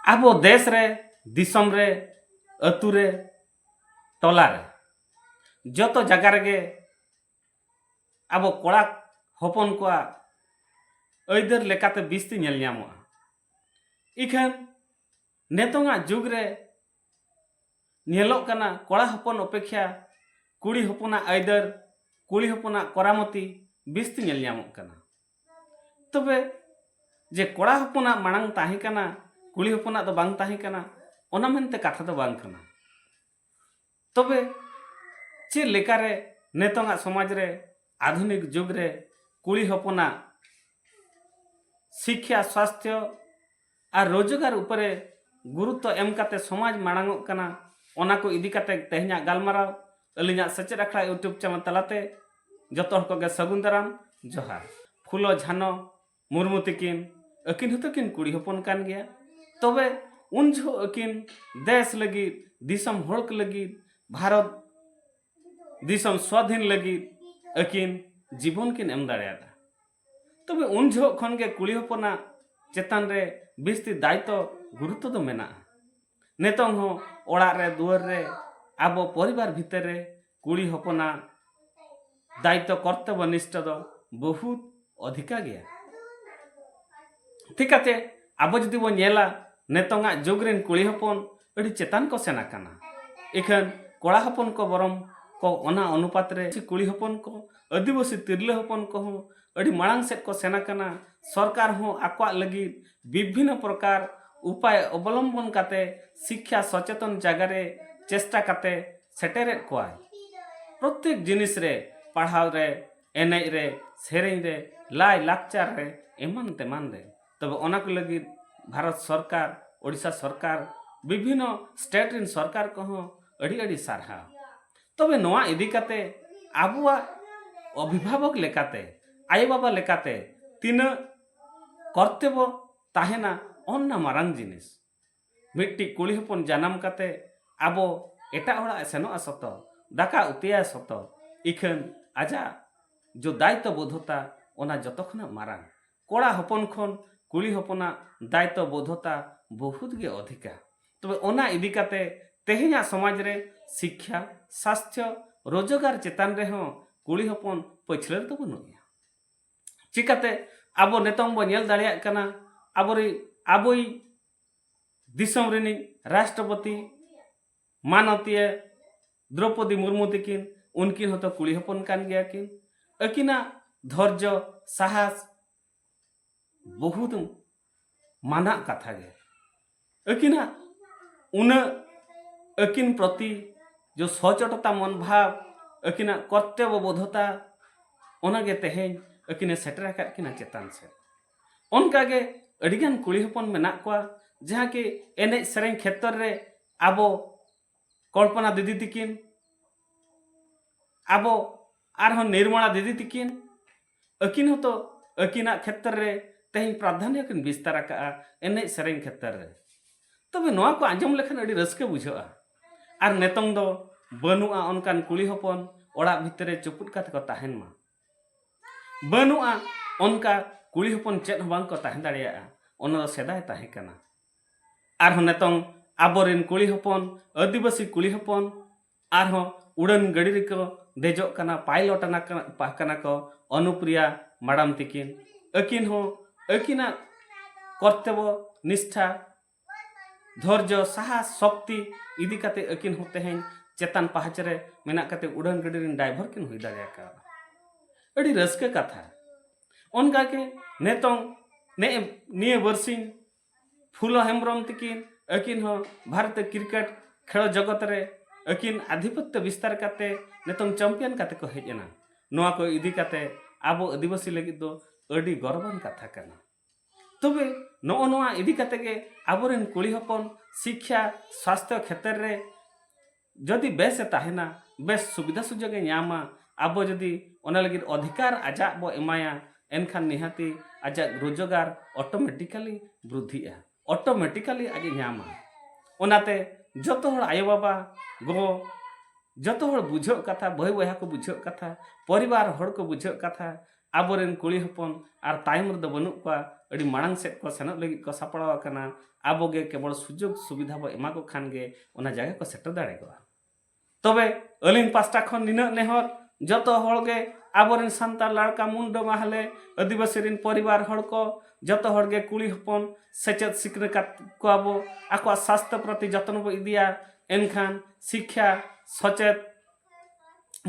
ᱟᱵᱚ ᱫᱮᱥ ᱨᱮ ᱫᱤᱥᱚᱢ ᱨᱮ ᱟᱹᱛᱩ ᱨᱮ ᱴᱚᱞᱟ ᱨᱮ ᱡᱚᱛᱚ ᱡᱟᱭᱜᱟ ᱨᱮᱜᱮ ᱟᱵᱚ ᱠᱚᱲᱟ ᱦᱚᱯᱚᱱ ᱠᱚᱣᱟᱜ ᱟᱹᱭᱫᱟᱹᱨ ᱞᱮᱠᱟᱛᱮ ᱵᱤᱥᱛᱤ ᱧᱮᱞ ᱧᱟᱢᱚᱜᱼᱟ ᱤᱠᱷᱟᱹᱱ ᱱᱤᱛᱚᱝ ᱟᱜ ᱡᱩᱜᱽ ᱨᱮ ᱧᱮᱞᱚᱜ ᱠᱟᱱᱟ ᱠᱚᱲᱟ ᱦᱚᱯᱚᱱ ᱚᱯᱮᱠᱷᱟ ᱠᱩᱲᱤ ᱦᱚᱯᱚᱱᱟᱜ ᱟᱹᱭᱫᱟᱹᱨ ᱠᱩᱲᱤ ᱦᱚᱯᱚᱱᱟᱜ ᱠᱚᱨᱟᱢᱚᱛᱤ ᱵᱤᱥᱛᱤ ᱧᱮᱞ ᱧᱟᱢᱚᱜ ᱠᱟᱱᱟ ᱛᱚᱵᱮ ᱡᱮ ᱠᱚᱲᱟ ᱦᱚᱯᱚᱱᱟᱜ ᱢᱟᱲᱟᱝ ᱛᱟᱦᱮᱸ ᱠᱟᱱᱟ ᱠᱩᱲᱤ ᱦᱚᱯᱚᱱᱟᱜ ᱫᱚ ᱵᱟᱝ ᱛᱟᱦᱮᱸ ᱠᱟᱱᱟ ᱚᱱᱟ ᱢᱮᱱᱛᱮ ᱠᱟᱛᱷᱟ ᱫᱚ ᱵᱟᱝ ᱠᱟᱱᱟ ᱛᱚᱵᱮ ᱪᱮᱫ ᱞᱮᱠᱟᱨᱮ ᱱᱤᱛᱚᱝᱟᱜ ᱥᱚᱢᱟᱡᱽ ᱨᱮ ᱟᱫᱷᱩᱱᱤᱠ ᱡᱩᱜᱽ ᱨᱮ ᱠᱩᱲᱤ ᱦᱚᱯᱚᱱᱟᱜ ᱥᱤᱠᱠᱷᱟ ᱥᱟᱥᱛᱷᱚ ᱟᱨ ᱨᱳᱡᱽᱜᱟᱨ ᱩᱯᱚᱨᱮ ᱜᱩᱨᱩᱛᱛᱚ ᱮᱢ ᱠᱟᱛᱮ ᱥᱚᱢᱟᱡᱽ ᱢᱟᱲᱟᱝᱚᱜ ᱠᱟᱱᱟ ᱚᱱᱟ ᱠᱚ ᱤᱫᱤ ᱠᱟᱛᱮ ᱛᱮᱦᱮᱧᱟᱜ ᱜᱟᱞᱢᱟᱨᱟᱣ ᱟᱹᱞᱤᱧᱟᱜ ᱥᱮᱪᱮᱫ ᱟᱠᱷᱲᱟ ᱤᱭᱩᱴᱩᱵᱽ ᱪᱮᱱᱮᱞ ᱛᱟᱞᱟᱛᱮ ᱡᱚᱛᱚ ᱦᱚᱲ ᱠᱚᱜᱮ ᱥᱟᱹᱜᱩᱱ ᱫᱟᱨᱟᱢ ᱡᱚᱦᱟᱨ ᱯᱷᱩᱞᱚ ᱡᱷᱟᱱᱚ ᱢᱩᱨᱢᱩ ᱛᱤᱠᱤᱱ ᱟᱹᱠᱤᱱ ᱦᱚᱸᱛᱚ ᱠᱤᱱ ᱠᱩᱲᱤ ᱦᱚᱯᱚᱱ ᱠᱟᱱ ᱜᱮᱭᱟ ᱛᱚᱵᱮ ᱩᱱ ᱡᱚᱦᱚᱜ ᱟᱹᱠᱤᱱ ᱫᱮᱥ ᱞᱟᱹᱜᱤᱫ ᱫᱤᱥᱚᱢ ᱦᱚᱲ ᱠᱚ ᱞᱟᱹᱜᱤᱫ ᱵᱷᱟᱨᱚᱛ ᱫᱤᱥᱚᱢ ᱥᱣᱟᱫᱷᱤᱱ ᱞᱟᱹᱜᱤᱫ ᱟᱹᱠᱤᱱ ᱡᱤᱵᱚᱱ ᱠᱤᱱ ᱮᱢ ᱫᱟᱲᱮᱭᱟᱫᱟ ᱛᱚᱵᱮ ᱩᱱ ᱡᱚᱦᱚᱜ ᱠᱷᱚᱱ ᱜᱮ ᱠᱩᱲᱤ ᱦᱚᱯᱚᱱᱟᱜ ᱪᱮᱛᱟᱱ ᱨᱮ ᱵᱤᱥᱛᱤ ᱫᱟᱭᱤᱛᱛᱚ ᱜᱩᱨᱩᱛᱛᱚ ᱫᱚ ᱢᱮᱱᱟᱜᱼᱟ ᱱᱤᱛᱚᱝ ᱦᱚᱸ ᱚᱲᱟᱜ ᱨᱮ ᱫᱩᱣᱟᱹᱨ ᱨᱮ ᱟᱵᱚ ᱯᱚᱨᱤᱵᱟᱨ ᱵᱷᱤᱛᱟᱹᱨ ᱨᱮ ᱠᱩᱲᱤ ᱦᱚᱯᱚᱱᱟᱜ ᱫᱟᱭᱤᱛᱛᱚ ᱠᱚᱨᱛᱚᱵᱽᱵᱚ ᱱᱤᱥᱴᱷᱟ ᱫᱚ ᱵᱚᱦᱩᱛ ᱚᱫᱷᱤᱠᱟ ᱜᱮᱭᱟ ᱴᱷᱤᱠᱟᱛᱮ ᱟᱵᱚ ᱡᱩᱫᱤ ᱵᱚᱱ ᱧᱮᱞᱟ ᱱᱤᱛᱚᱝᱟᱜ ᱡᱩᱜᱽ ᱨᱮᱱ ᱠᱩᱲᱤ ᱦᱚᱯᱚᱱ ᱟᱹᱰᱤ ᱪᱮᱛᱟᱱ ᱠᱚ ᱥᱮᱱ ᱟᱠᱟᱱᱟ ᱤᱠᱷᱟᱹᱱ ᱠᱚᱲᱟ ᱦᱚᱯᱚᱱ ᱠᱚ ᱵᱚᱨᱚᱢ ᱠᱚ ᱚᱱᱟ ᱚᱱᱩᱯᱟᱛ ᱨᱮ ᱠᱩᱲᱤ ᱦᱚᱯᱚᱱ ᱠᱚ ᱟᱹᱫᱤᱵᱟᱹᱥᱤ ᱛᱤᱨᱞᱟᱹ ᱦᱚᱯᱚᱱ ᱠᱚᱦᱚᱸ ᱟᱹᱰᱤ ᱢᱟᱲᱟᱝ ᱥᱮᱫ ᱠᱚ ᱥᱮᱱ ᱟᱠᱟᱱᱟ ᱥᱚᱨᱠᱟᱨ ᱦᱚᱸ ᱟᱠᱚᱣᱟᱜ ᱞᱟᱹᱜᱤᱫ ᱵᱤᱵᱷᱤᱱᱱᱚ ᱯᱨᱚᱠᱟᱨ ᱩᱯᱟᱭ ᱚᱵᱚᱞᱚᱢᱵᱚᱱ ᱠᱟᱛᱮ ᱥᱤᱠᱠᱷᱟ ᱥᱚᱪᱮᱛᱚᱱ ᱡᱟᱭᱜᱟ ᱨᱮ ᱪᱮᱥᱴᱟ ᱠᱟᱛᱮ ᱥᱮᱴᱮᱨᱮᱫ ᱠᱚᱣᱟᱭ᱾ ᱯᱨᱚᱛᱮᱠ ᱡᱤᱱᱤᱥ ᱨᱮ ᱯᱟᱲᱦᱟᱣ ᱨᱮ, ᱮᱱᱮᱡ ᱨᱮ, ᱥᱮᱨᱮᱧ ᱨᱮ, ᱞᱟᱭ ᱞᱟᱠᱪᱟᱨ ᱨᱮ ᱮᱢᱟᱱ ᱛᱮᱢᱟᱱ ᱨᱮ᱾ ᱛᱚᱵᱮ ᱚᱱᱟ ᱠᱚ ᱞᱟᱹᱜᱤᱫ ᱵᱷᱟᱨᱚᱛ ᱥᱚᱨᱠᱟᱨ, ᱳᱰᱤᱥᱟ ᱥᱚᱨᱠᱟᱨ, ᱵᱤᱵᱷᱤᱱᱱᱚ ᱥᱴᱮᱴ ᱨᱤᱱ ᱥᱚᱨᱠᱟᱨ ᱠᱚ ᱦᱚᱸ ᱟᱹᱰᱤ ᱟᱹᱰᱤ ᱥᱟᱨᱦᱟᱣ᱾ ᱛᱚᱵᱮ ᱱᱚᱣᱟ ᱤᱫᱤ ᱠᱟᱛᱮ ᱟᱵᱚᱣᱟᱜ ᱚᱵᱷᱤᱵᱷᱟᱵᱚᱠ ᱞᱮᱠᱟᱛᱮ, ᱟᱭᱳ ᱵᱟᱵᱟ ᱞᱮᱠᱟᱛᱮ ᱛᱤᱱᱟᱹᱜ ᱠᱚᱨᱛᱮᱵᱚ ᱛᱟᱦᱮᱱᱟ ᱚᱱᱱᱟ ᱢᱟᱨᱟᱝ ᱡᱤᱱᱤᱥ ᱢᱤᱫᱴᱤᱡ ᱠᱩᱲᱤ ᱦᱚᱯᱚᱱ ᱡᱟᱱᱟᱢ ᱠᱟᱛᱮ ᱟᱵᱚ ᱮᱴᱟᱜ ᱦᱚᱲᱟᱜ ᱮ ᱥᱮᱱᱚᱜᱼᱟ ᱥᱚᱛᱚ ᱫᱟᱠᱟ ᱩᱛᱩᱭᱟᱭ ᱥᱚᱛᱚ ᱤᱠᱷᱟᱹᱱ ᱟᱡᱟᱜ ᱡᱚ ᱫᱟᱭᱤᱛᱛᱚ ᱵᱳᱫᱷᱚᱛᱟ ᱚᱱᱟ ᱡᱚᱛᱚ ᱠᱷᱚᱱᱟᱜ ᱢᱟᱨᱟᱝ ᱠᱚᱲᱟ ᱦᱚᱯᱚᱱ ᱠᱷᱚᱱ ᱠᱩᱲᱤ ᱦᱚᱯᱚᱱᱟᱜ ᱫᱟᱭᱤᱛᱛᱚ ᱵᱳᱫᱷᱚᱛᱟ ᱵᱚᱦᱩᱛ ᱜᱮ ᱚᱫᱷᱤᱠᱟ ᱛᱚᱵᱮ ᱚᱱᱟ ᱤᱫᱤ ᱠᱟᱛᱮ ᱛᱮᱦᱮᱧᱟᱜ ᱥᱚᱢᱟᱡᱽ ᱨᱮ ᱥᱤᱠᱠᱷᱟ ᱥᱟᱥᱛᱷᱚ ᱨᱳᱡᱽᱜᱟᱨ ᱪᱮᱛᱟᱱ ᱨᱮᱦᱚᱸ ᱠᱩᱲᱤ ᱦᱚᱯᱚᱱ ᱯᱟᱹᱪᱷᱞᱟᱹ ᱫᱚ ᱵᱟᱹᱱᱩᱜ ᱮᱭᱟ ᱪᱤᱠᱟᱹᱛᱮ ᱟᱵᱚ ᱱᱤᱛᱚᱝ ᱵᱚ ᱧᱮᱞ ᱫᱟᱲᱮᱭᱟᱜ ᱠᱟᱱᱟ ᱟᱵᱚᱨᱤ ᱟᱵᱚᱭ ᱫᱤᱥᱚᱢ ᱨᱤᱱᱤᱡ ᱨᱟᱥᱴᱨᱚᱯᱚᱛᱤ ᱢᱟᱱᱚᱛᱤᱭᱟᱹ ᱫᱨᱚᱯᱚᱫᱤ ᱢᱩᱨᱢᱩ ᱛᱤᱠᱤᱱ ᱩᱱᱠᱤᱱ ᱦᱚᱸᱛᱚ ᱠᱩᱲᱤ ᱦᱚᱯᱚᱱ ᱠᱟᱱ ᱜᱮᱭᱟ ᱠᱤᱱ ᱟᱹᱠᱤᱱᱟᱜ ᱫᱷᱚᱨᱡᱚ ᱥᱟᱦᱟᱥ ᱵᱚᱦᱩᱛ ᱢᱟᱱᱟᱜ ᱠᱟᱛᱷᱟ ᱜᱮ ᱟᱹᱠᱤᱱᱟᱜ ᱩᱱᱟᱹᱜ ᱟᱹᱠᱤᱱ ᱯᱨᱚᱛᱤ ᱡᱚ ᱥᱚᱪᱚᱴᱚᱛᱟ ᱢᱚᱱ ᱵᱷᱟᱵᱽ ᱟᱹᱠᱤᱱᱟᱜ ᱠᱚᱨᱛᱚᱵᱽᱵᱚ ᱵᱳᱫᱷᱚᱛᱟ ᱚᱱᱟᱜᱮ ᱛᱮᱦᱮᱧ ᱟᱹᱠᱤᱱᱮ ᱥᱮᱴᱮᱨ ᱟᱠᱟᱫ ᱠᱤᱱᱟ ᱪᱮᱛᱟᱱ ᱥᱮᱫ ᱚᱱᱠᱟᱜᱮ ᱟᱹᱰᱤᱜᱟᱱ ᱠᱩᱲᱤ ᱦᱚᱯᱚᱱ ᱢᱮᱱᱟᱜ ᱠᱚᱣᱟ ᱡᱟᱦᱟᱸ ᱠᱤ ᱮᱱᱮᱡ ᱥᱮᱨᱮᱧ ᱠᱷᱮᱛᱨᱚ ᱨᱮ ᱟᱵᱚ ᱠᱚᱞᱯᱚᱱᱟ ᱫᱤᱫᱤ ᱛᱤᱠᱤᱱ ᱟᱵᱚ ᱟᱨᱦᱚᱸ ᱱᱤᱨᱢᱚᱞᱟ ᱫᱤᱫᱤ ᱛᱤᱠᱤᱱ ᱟᱹᱠᱤᱱ ᱦᱚᱸᱛᱚ ᱟᱹᱠᱤᱱᱟᱜ ᱠᱷᱮᱛᱨᱮ ᱨᱮ ᱛᱮᱦᱮᱧ ᱯᱨᱟᱫᱷᱟᱱᱭᱚ ᱠᱤᱱ ᱵᱤᱥᱛᱟᱨ ᱟᱠᱟᱜᱼᱟ ᱮᱱᱮᱡ ᱥᱮᱨᱮᱧ ᱠᱷᱮᱛᱨᱮ ᱨᱮ ᱛᱚᱵᱮ ᱱᱚᱣᱟ ᱠᱚ ᱟᱸᱡᱚᱢ ᱞᱮᱠᱷᱟᱱ ᱟᱹᱰᱤ ᱨᱟᱹᱥᱠᱟᱹ ᱵᱩᱡᱷᱟᱹᱜᱼᱟ ᱟᱨ ᱱᱤᱛᱚᱝ ᱫᱚ ᱵᱟᱹᱱᱩᱜᱼᱟ ᱚᱱᱠᱟᱱ ᱠᱩᱲᱤ ᱦᱚᱯᱚᱱ ᱚᱲᱟᱜ ᱵᱷᱤᱛᱨᱤ ᱨᱮ ᱪᱩᱯᱩᱫ ᱠᱟᱛᱮ ᱠᱚ ᱛᱟᱦᱮᱱ ᱢᱟ ᱵᱟᱹᱱᱩᱜᱼᱟ ᱚᱱᱠᱟ ᱠᱩᱲᱤ ᱦᱚᱯᱚᱱ ᱪᱮᱫ ᱦᱚᱸ ᱵᱟᱝ ᱠᱚ ᱛᱟᱦᱮᱸ ᱫᱟᱲᱮᱭᱟᱜᱼᱟ ᱚᱱᱟ ᱫᱚ ᱥᱮᱫᱟᱭ ᱛᱟᱦᱮᱸ ᱠᱟᱱᱟ ᱟᱨᱦᱚᱸ ᱱᱤᱛᱚᱝ ᱟᱵᱚᱨᱮᱱ ᱠᱩᱲᱤ ᱦᱚᱯᱚᱱ ᱟᱹᱫᱤᱵᱟᱹᱥᱤ ᱠᱩᱲᱤ ᱦᱚᱯᱚᱱ ᱟᱨᱦᱚᱸ ᱩᱰᱟᱹᱱ ᱜᱟᱹᱰᱤ ᱨᱮᱠᱚ ᱫᱮᱡᱚᱜ ᱠᱟᱱᱟ ᱯᱟᱭᱞᱚᱴ ᱠᱟᱱᱟ ᱠᱚ ᱚᱱᱩᱯᱨᱤᱭᱟ ᱢᱟᱰᱟᱢ ᱛᱤᱠᱤᱱ ᱟᱹᱠᱤᱱ ᱦᱚᱸ ᱟᱹᱠᱤᱱᱟᱜ ᱠᱚᱨᱛᱚᱵᱽᱵᱚ ᱱᱤᱥᱴᱷᱟ ᱫᱷᱳᱨᱡᱚ ᱥᱟᱦᱟᱥ ᱥᱚᱠᱛᱤ ᱤᱫᱤ ᱠᱟᱛᱮ ᱟᱹᱠᱤᱱ ᱦᱚᱸ ᱛᱮᱦᱮᱧ ᱪᱮᱛᱟᱱ ᱯᱟᱦᱟᱪ ᱨᱮ ᱢᱮᱱᱟᱜ ᱠᱟᱛᱮ ᱩᱰᱟᱹᱱ ᱜᱟᱹᱰᱤ ᱨᱮᱱ ᱰᱟᱭᱵᱷᱟᱨ ᱠᱤᱱ ᱦᱩᱭ ᱫᱟᱲᱮ ᱟᱠᱟᱣᱫᱟ ᱟᱹᱰᱤ ᱨᱟᱹᱥᱠᱟᱹ ᱠᱟᱛᱷᱟ ᱚᱱᱠᱟ ᱜᱮ ᱱᱤᱛᱚᱝ ᱱᱮᱜᱼᱮ ᱱᱤᱭᱟᱹ ᱵᱟᱹᱨᱥᱤᱧ ᱯᱷᱩᱞᱚ ᱦᱮᱢᱵᱨᱚᱢ ᱛᱤᱠᱤᱱ ᱟᱹᱠᱤᱱ ᱦᱚᱸ ᱵᱷᱟᱨᱚᱛ ᱠᱨᱤᱠᱮᱴ ᱠᱷᱮᱞ ᱡᱚᱜᱚᱛ ᱨᱮ ᱟᱹᱠᱤᱱ ᱟᱫᱷᱤᱯᱚᱛᱛᱚ ᱵᱤᱥᱛᱟᱨ ᱠᱟᱛᱮ ᱱᱤᱛᱚᱝ ᱪᱟᱢᱯᱤᱭᱟᱱ ᱠᱟᱛᱮ ᱠᱚ ᱦᱮᱡ ᱮᱱᱟ ᱱᱚᱣᱟ ᱠᱚ ᱤᱫᱤ ᱠᱟᱛᱮ ᱟᱵᱚ ᱟᱹᱫᱤᱵᱟᱹᱥᱤ ᱞᱟᱹᱜᱤᱫ ᱫᱚ ᱟᱹᱰᱤ ᱜᱚᱨᱚᱵᱟᱱ ᱠᱟᱛᱷᱟ ᱠᱟᱱᱟ ᱛᱚᱵᱮ ᱱᱚᱜᱼᱚ ᱱᱚᱣᱟ ᱤᱫᱤ ᱠᱟᱛᱮ ᱜᱮ ᱟᱵᱚᱨᱮᱱ ᱠᱩᱲᱤ ᱦᱚᱯᱚᱱ ᱥᱤᱠᱠᱷᱟ ᱥᱟᱥᱛᱷᱚ ᱠᱷᱮᱛᱨᱮ ᱨᱮ ᱡᱚᱫᱤ ᱵᱮᱥ ᱮ ᱛᱟᱦᱮᱱᱟ ᱵᱮᱥ ᱥᱩᱵᱤᱫᱷᱟ ᱥᱩᱡᱚᱜ ᱮ ᱧᱟᱢᱟ ᱟᱵᱚ ᱡᱚᱫᱤ ᱚᱱᱟ ᱞᱟᱹᱜᱤᱫ ᱚᱫᱷᱤᱠᱟᱨ ᱟᱡᱟᱜ ᱵᱚ ᱮᱢᱟᱭᱟ ᱮᱱᱠᱷᱟᱱ ᱱᱤᱦᱟᱹᱛᱤ ᱟᱡᱟᱜ ᱨᱳᱡᱚᱜᱟᱨ ᱚᱴᱚᱢᱮᱴᱤᱠᱟᱞᱤ ᱵᱨᱩᱫᱷᱤᱜᱼᱟ ᱚᱴᱚᱢᱮᱴᱤᱠᱟᱞᱤ ᱟᱡ ᱮ ᱧᱟᱢᱟ ᱚᱱᱟᱛᱮ ᱡᱚᱛᱚ ᱦᱚᱲ ᱟᱭᱳ ᱵᱟᱵᱟ ᱜᱚ ᱡᱚᱛᱚ ᱦᱚᱲ ᱵᱩᱡᱷᱟᱹᱜ ᱠᱟᱛᱷᱟ ᱵᱟᱹᱭ ᱵᱚᱭᱦᱟ ᱠᱚ ᱵᱩᱡᱷᱟᱹᱜ ᱠᱟᱛᱷᱟ ᱯᱚᱨᱤᱵᱟᱨ ᱦᱚᱲ ᱠᱚ ᱵᱩᱡᱷᱟᱹᱜ ᱠᱟᱛᱷᱟ ᱟᱵᱚᱨᱮᱱ ᱠᱩᱲᱤ ᱦᱚᱯᱚᱱ ᱟᱨ ᱛᱟᱭᱚᱢ ᱨᱮᱫᱚ ᱵᱟᱹᱱᱩᱜ ᱠᱚᱣᱟ ᱟᱹᱰᱤ ᱢᱟᱲᱟᱝ ᱥᱮᱫ ᱠᱚ ᱥᱮᱱᱚᱜ ᱞᱟᱹᱜᱤᱫ ᱠᱚ ᱥᱟᱯᱲᱟᱣ ᱟᱠᱟᱱᱟ ᱟᱵᱚ ᱜᱮ ᱠᱮᱵᱚᱞ ᱥᱩᱡᱳᱜᱽ ᱥᱩᱵᱤᱫᱷᱟ ᱵᱚ ᱮᱢᱟ ᱠᱚ ᱠᱷᱟᱱ ᱜᱮ ᱚᱱᱟ ᱡᱟᱭᱜᱟ ᱠᱚ ᱥᱮᱴᱮᱨ ᱫᱟᱲᱮ ᱠᱚᱜᱼᱟ ᱛᱚᱵᱮ ᱟᱹᱞᱤᱧ ᱯᱟᱥᱴᱟ ᱠᱷᱚᱱ ᱱᱤᱱᱟᱹᱜ ᱱᱮᱦᱚᱨ ᱡᱚᱛᱚ ᱦᱚᱲ ᱜᱮ ᱟᱵᱚᱨᱮᱱ ᱥᱟᱱᱛᱟᱲ ᱞᱟᱲᱠᱟ ᱢᱩᱱᱰᱟᱹ ᱢᱟᱦᱞᱮ ᱟᱹᱫᱤᱵᱟᱹᱥᱤ ᱨᱮᱱ ᱯᱚᱨᱤᱵᱟᱨ ᱦᱚᱲ ᱠᱚ ᱡᱚᱛᱚ ᱦᱚᱲ ᱜᱮ ᱠᱩᱲᱤ ᱦᱚᱯᱚᱱ ᱥᱮᱪᱮᱫ ᱥᱤᱠᱷᱱᱟᱹ ᱠᱟᱛ ᱠᱚᱣᱟ ᱵᱚ ᱟᱠᱚᱣᱟᱜ ᱥᱟᱥᱛᱷᱚ ᱯᱨᱚᱛᱤ ᱡᱚᱛᱱᱚ ᱵᱚ ᱤᱫᱤᱭᱟ ᱮᱱᱠᱷᱟᱱ ᱥᱤᱠᱠᱷᱟ ᱥᱚᱪᱮᱫ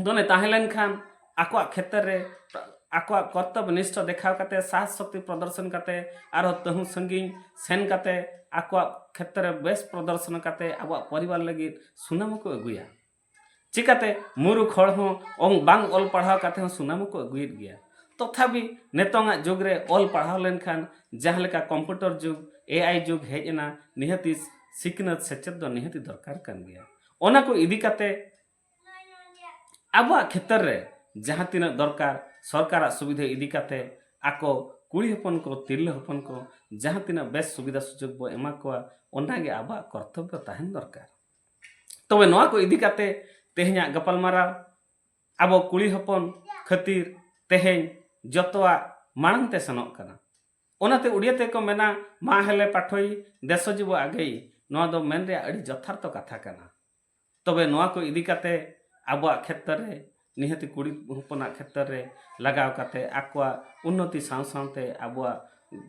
ᱫᱚᱱᱮ ᱛᱟᱦᱮᱸ ᱞᱮᱱᱠᱷᱟᱱ ᱟᱠᱚᱣᱟᱜ ᱠᱷᱮᱛᱨᱮ ᱨᱮ ᱟᱠᱚᱣᱟᱜ ᱠᱚᱨᱛᱚᱵᱽ ᱱᱤᱥᱴᱷᱟ ᱫᱮᱠᱷᱟᱣ ᱠᱟᱛᱮ ᱥᱟᱦᱥ ᱥᱚᱠᱛᱤ ᱯᱨᱚᱫᱚᱨᱥᱚᱱ ᱠᱟᱛᱮ ᱟᱨᱦᱚᱸ ᱛᱟᱹᱦᱩ ᱥᱟᱺᱜᱤᱧ ᱥᱮᱱ ᱠᱟᱛᱮ ᱟᱠᱚᱣᱟᱜ ᱠᱷᱮᱛᱨᱮ ᱵᱮᱥ ᱯᱨᱚᱫᱚᱨᱥᱚᱱ ᱠᱟᱛᱮ ᱟᱵᱚᱣᱟᱜ ᱯᱚᱨᱤᱵᱟᱨ ᱞᱟᱹᱜᱤᱫ ᱥᱩᱱᱟᱢ ᱦᱚᱸᱠᱚ ᱟᱹᱜᱩᱭᱟ ᱪᱤᱠᱟᱹᱛᱮ ᱢᱩᱨᱩᱠᱷ ᱦᱚᱲ ᱦᱚᱸ ᱵᱟᱝ ᱚᱞ ᱯᱟᱲᱦᱟᱣ ᱠᱟᱛᱮ ᱦᱚᱸ ᱥᱩᱱᱟᱢ ᱦᱚᱸᱠᱚ ᱟᱹᱜᱩᱭᱮᱫ ᱜᱮᱭᱟ ᱛᱚᱛᱷᱟᱯᱤ ᱱᱤᱛᱚᱝᱟᱜ ᱡᱩᱜᱽ ᱨᱮ ᱚᱞ ᱯᱟᱲᱦᱟᱣ ᱞᱮᱱᱠᱷᱟᱱ ᱡᱟᱦᱟᱸ ᱞᱮᱠᱟ ᱠᱚᱢᱯᱤᱭᱩᱴᱟᱨ ᱡᱩᱜᱽ ᱮ ᱟᱭ ᱡᱩᱜᱽ ᱦᱮᱡ ᱮᱱᱟ ᱱᱤᱦᱟᱹᱛᱤ ᱥᱤᱠᱷᱱᱟᱹᱛ ᱥᱮᱪᱮᱫ ᱫᱚ ᱱᱤᱦᱟᱹᱛᱤ ᱫᱚᱨᱠᱟᱨ ᱠᱟᱱ ᱜᱮᱭᱟ ᱚᱱᱟ ᱠᱚ ᱤᱫᱤ ᱠᱟᱛᱮ ᱟᱵᱚᱣᱟᱜ ᱠᱷᱮᱛᱨᱮ ᱨᱮ ᱡᱟᱦᱟᱸ ᱛᱤᱱᱟᱹᱜ ᱫᱚᱨᱠᱟᱨ ᱥᱚᱨᱠᱟᱨᱟᱜ ᱥᱩᱵᱤᱫᱷᱟ ᱤᱫᱤ ᱠᱟᱛᱮ ᱟᱠᱚ ᱠᱩᱲᱤ ᱦᱚᱯᱚᱱ ᱠᱚ ᱛᱤᱨᱞᱟᱹ ᱦᱚᱯᱚᱱ ᱠᱚ ᱡᱟᱦᱟᱸ ᱛᱤᱱᱟᱹᱜ ᱵᱮᱥ ᱥᱩᱵᱤᱫᱷᱟ ᱥᱩᱡᱳᱜᱽ ᱵᱚ ᱮᱢᱟ ᱠᱚᱣᱟ ᱚᱱᱟᱜᱮ ᱟᱵᱚᱣᱟᱜ ᱠᱚᱨᱛᱚᱵᱽᱵᱚ ᱛᱟᱦᱮᱱ ᱫᱚᱨᱠᱟᱨ ᱛᱚᱵᱮ ᱱᱚᱣᱟ ᱠᱚ ᱤᱫᱤ ᱠᱟᱛᱮ ᱛᱮᱦᱮᱧᱟᱜ ᱜᱟᱯᱟᱞᱢᱟᱨᱟᱣ ᱟᱵᱚ ᱠᱩᱲᱤ ᱦᱚᱯᱚᱱ ᱠᱷᱟᱹᱛᱤᱨ ᱛᱮᱦᱮᱧ ᱡᱚᱛᱚᱣᱟᱜ ᱢᱟᱲᱟᱝ ᱛᱮ ᱥᱮᱱᱚᱜ ᱠᱟᱱᱟ ᱚᱱᱟᱛᱮ ᱩᱰᱤᱭᱟ ᱛᱮ ᱠᱚ ᱢᱮᱱᱟ ᱢᱟ ᱦᱮᱞᱮ ᱯᱟᱴᱷᱚᱭ ᱫᱮᱥᱚ ᱡᱤᱵᱚ ᱟᱜᱮᱭ ᱱᱚᱣᱟ ᱫᱚ ᱢᱮᱱ ᱨᱮᱭᱟᱜ ᱟᱹᱰᱤ ᱡᱚᱛᱷᱟᱨᱛᱚ ᱠᱟᱛᱷᱟ ᱠᱟᱱᱟ ᱛᱚᱵᱮ ᱱᱚᱣᱟ ᱠᱚ ᱤᱫᱤ ᱠᱟᱛᱮ ᱟᱵᱚᱣᱟᱜ ᱠᱷᱮᱛᱨᱮ ᱨᱮ ᱱᱤᱦᱟᱹᱛᱤ ᱠᱩᱲᱤ ᱦᱚᱯᱚᱱᱟᱜ ᱠᱷᱮᱛᱨᱮ ᱨᱮ ᱞᱟᱜᱟᱣ ᱠᱟᱛᱮ ᱟᱠᱚᱣᱟᱜ ᱩᱱᱱᱚᱛᱤ ᱥᱟᱶ ᱥᱟᱶᱛᱮ ᱟᱵᱚᱣᱟᱜ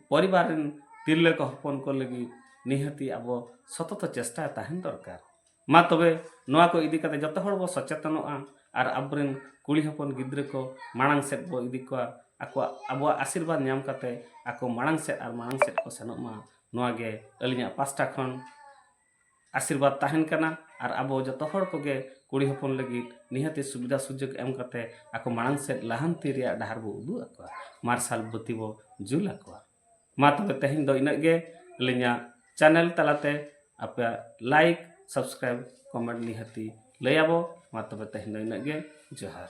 ᱯᱚᱨᱤᱵᱟᱨ ᱨᱮᱱ ᱛᱤᱨᱞᱟᱹ ᱠᱚ ᱦᱚᱯᱚᱱ ᱠᱚ ᱞᱟᱹᱜᱤᱫ ᱱᱤᱦᱟᱹᱛᱤ ᱟᱵᱚ ᱥᱚᱛᱚᱛᱚ ᱪᱮᱥᱴᱟ ᱛᱟᱦᱮᱱ ᱫᱚᱨᱠᱟᱨ ᱢᱟ ᱛᱚᱵᱮ ᱱᱚᱣᱟ ᱠᱚ ᱤᱫᱤ ᱠᱟᱛᱮ ᱡᱚᱛᱚ ᱦᱚᱲ ᱵᱚ ᱥᱚᱪᱮᱛᱚᱱᱚᱜᱼᱟ ᱟᱨ ᱟᱵᱚᱨᱮᱱ ᱠᱩᱲᱤ ᱦᱚᱯᱚᱱ ᱜᱤᱫᱽᱨᱟᱹ ᱠᱚ ᱢᱟᱲᱟᱝ ᱥᱮᱫ ᱵᱚ ᱤᱫᱤ ᱠᱚᱣᱟ ᱟᱠᱚᱣᱟᱜ ᱟᱵᱚᱣᱟᱜ ᱟᱥᱤᱨᱵᱟᱫᱽ ᱧᱟᱢ ᱠᱟᱛᱮ ᱟᱠᱚ ᱢᱟᱲᱟᱝ ᱥᱮᱫ ᱟᱨ ᱢᱟᱲᱟᱝ ᱥᱮᱫ ᱠᱚ ᱥᱮᱱᱚᱜ ᱢᱟ ᱱᱚᱣᱟ ᱜᱮ ᱟᱹᱞᱤᱧᱟᱜ ᱯᱟᱥᱴᱟ ᱠᱷᱚᱱ ᱟᱥᱤᱨᱵᱟᱫᱽ ᱛᱟᱦᱮᱱ ᱠᱟᱱᱟ ᱟᱨ ᱟᱵᱚ ᱡᱚᱛᱚ ᱦᱚᱲ ᱠᱚᱜᱮ ᱠᱩᱲᱤ ᱦᱚᱯᱚᱱ ᱞᱟᱹᱜᱤᱫ ᱱᱤᱦᱟᱹᱛᱤ ᱥᱩᱵᱤᱫᱷᱟ ᱥᱩᱡᱳᱜᱽ ᱮᱢ ᱠᱟᱛᱮ ᱟᱠᱚ ᱢᱟᱲᱟᱝ ᱥᱮᱫ ᱞᱟᱦᱟᱱᱛᱤ ᱨᱮᱭᱟᱜ ᱰᱟᱦᱟᱨ ᱵᱚ ᱩᱫᱩᱜ ᱟᱠᱚᱣᱟ ᱢᱟᱨᱥᱟᱞ ᱵᱟᱹᱛᱤ ᱵᱚ ᱡᱩᱞ ᱟᱠᱚᱣᱟ ᱢᱟ ᱛᱚᱵᱮ ᱛᱮᱦᱮᱧ ᱫᱚ ᱤᱱᱟᱹᱜ ᱜᱮ ᱟᱹᱞᱤᱧᱟᱜ ᱪᱮᱱᱮᱞ ᱛᱟᱞᱟᱛᱮ ᱟᱯᱮᱭᱟᱜ ᱞᱟᱭᱤᱠ ᱥᱟᱵᱥᱠᱨᱟᱭᱤᱵ ᱠᱚᱢᱮᱱᱴ ᱱᱤᱦᱟᱹᱛᱤ ᱞᱟᱹᱭᱟᱵᱚ ᱢᱟ ᱛᱚᱵᱮ ᱛᱮᱦᱮᱧ ᱫᱚ ᱤᱱᱟᱹᱜ ᱜᱮ ᱡᱚᱦᱟᱨ